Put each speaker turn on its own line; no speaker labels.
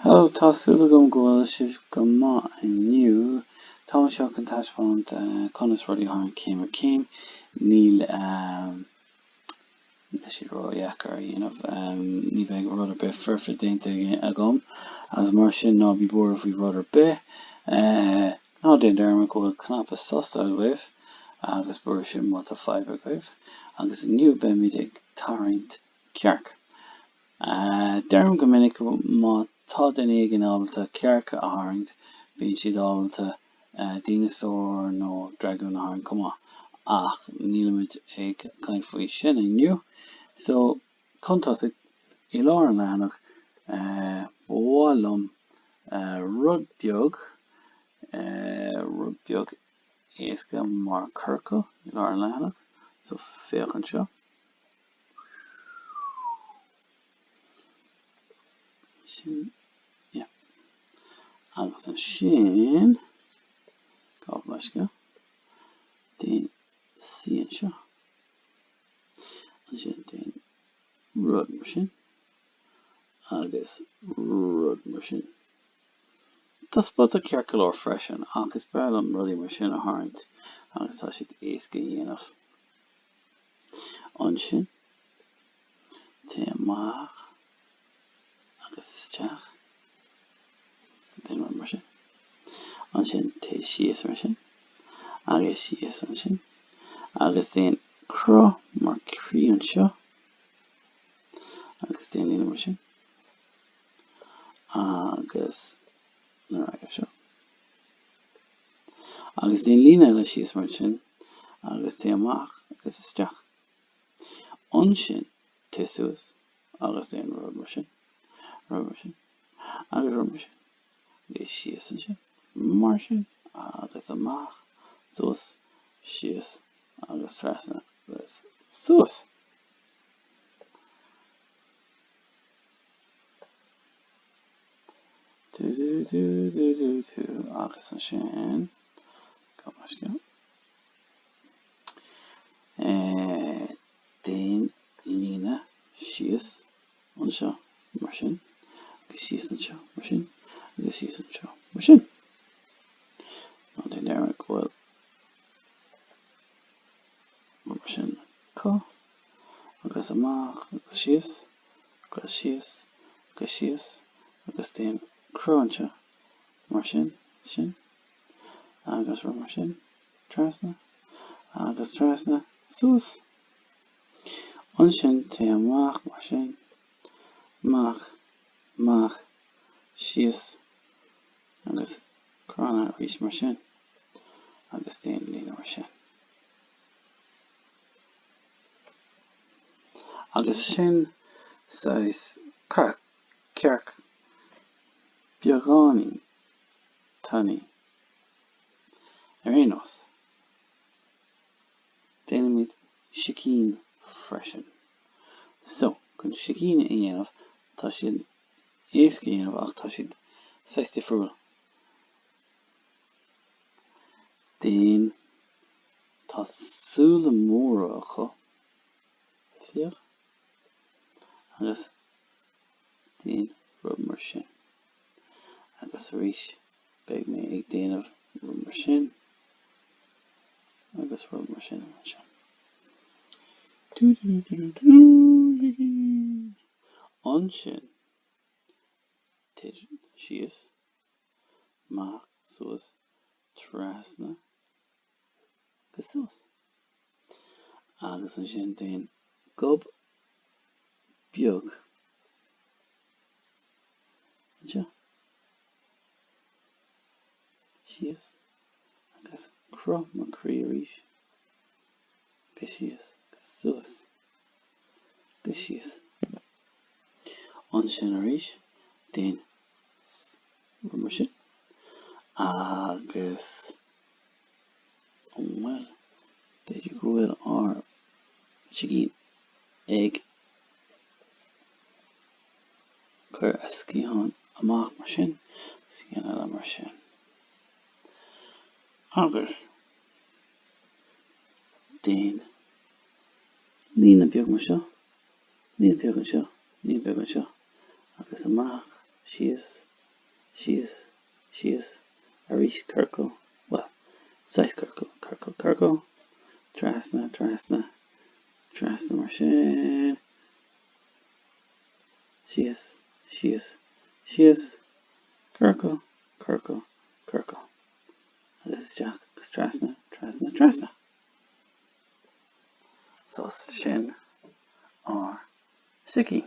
Hello, tá súil agam go bhfuil sibh go maith inniu. Táim anseo chun taispeáint conas rudaí a tharraingt céim ar chéim. Níl siad ró-dheacair a dhéanamh. Ní bheidh rud ar bith foirfe déanta agam agus mar sin ná bí buartha faoi rud ar bith. Ná déan dearmad go bhfuil cnaipe sos agaibh agus briseadh má tá fadhb agaibh. Agus inniu beimid ag tarraingt cearc. Deirim go minic má tá duine éigin ábalta cearc a tharraingt, bíonn siad ábalta díneasaór nó dragún a tharraingt chomh maith. Ach nílimid ag caint faoi sin inniu. So. chun tosaigh i lár an leathanach ba mhaith liom rud beag rud beag éasca mar ciorcal i lár an leathanach so féach anseo sin yeah agus ansin gabh mo leithscéal déan súil anseo. ansin déan rud mar sin, agus rud mar sin. Tá spota ceart go leor freisin, ach is breá liom rudaí mar sin a tharraingt agus tá siad éasca a dhéanamh. Ansin, téigh amach. agus isteach. Déan rud mar sin. Ansin téigh síos mar sin, agus síos ansin, agus déan cruth mar thrí anseo, agus déan líne mar sin, agus nuair a seo. Agus déan líne eile síos mar sin, agus téigh amach, agus isteach. Ansin téigh suas, agus déan rud mar sin, rud mar sin, agus rud mar sin, téigh síos ansin, mar sin, agus amach, suas, síos, agus trasna, agus suas. Do do do do do do, agus ansin, go mar sin. Déan líne síos anseo mar sin, agus síos anseo mar sin, agus síos anseo mar sin. Ná déan dearmad go bhfuil mar sin acu, agus amach agus síos, agus síos agus síos, agus déan cruth anseo mar sin, sin. agus rith mar sin, trasna, agus trasna, suas. Ansin téigh amach mar sin, amach, amach, síos, agus trasna arís mar sin, agus déan líne mar sin. Agus sin saghas cearc, beagáinín. Tá, Ar aon nós, déanaimid sicín freisin. So, chun sicín a dhéanamh, tá siad an-éasca a dhéanamh ach tá siad saghas difriúil déan, tá súile móra acu, féach, agus. Déan rud mar sin. Agus arís, Beidh mé ag déanamh rud mar sin agus rud mar sin anseo. Ansin, Tig, síos, amach, suas, trasna. agus ansin déan gob beag anseo, síos agus cruth mar chroí arís. Go síos agus suas. Go síos. Ansin arís, déan mar sin. Agus, bhuel, b'fhéidir go bhfuil ár sicín ag cur a sciathán amach mar sin, sciathán eile mar sin. Agus. déan líne beag anseo, líne beag anseo, líne beag anseo agus amach, síos, síos, síos arís, ciorcal, bhuel, saghas ciorcail, ciorcal, ciorcal, trasna, trasna, trasna mar sin, síos, síos, síos, ciorcal, ciorcal, ciorcal. agus isteach agus trasna, trasna, trasna. So, sin ár sicín.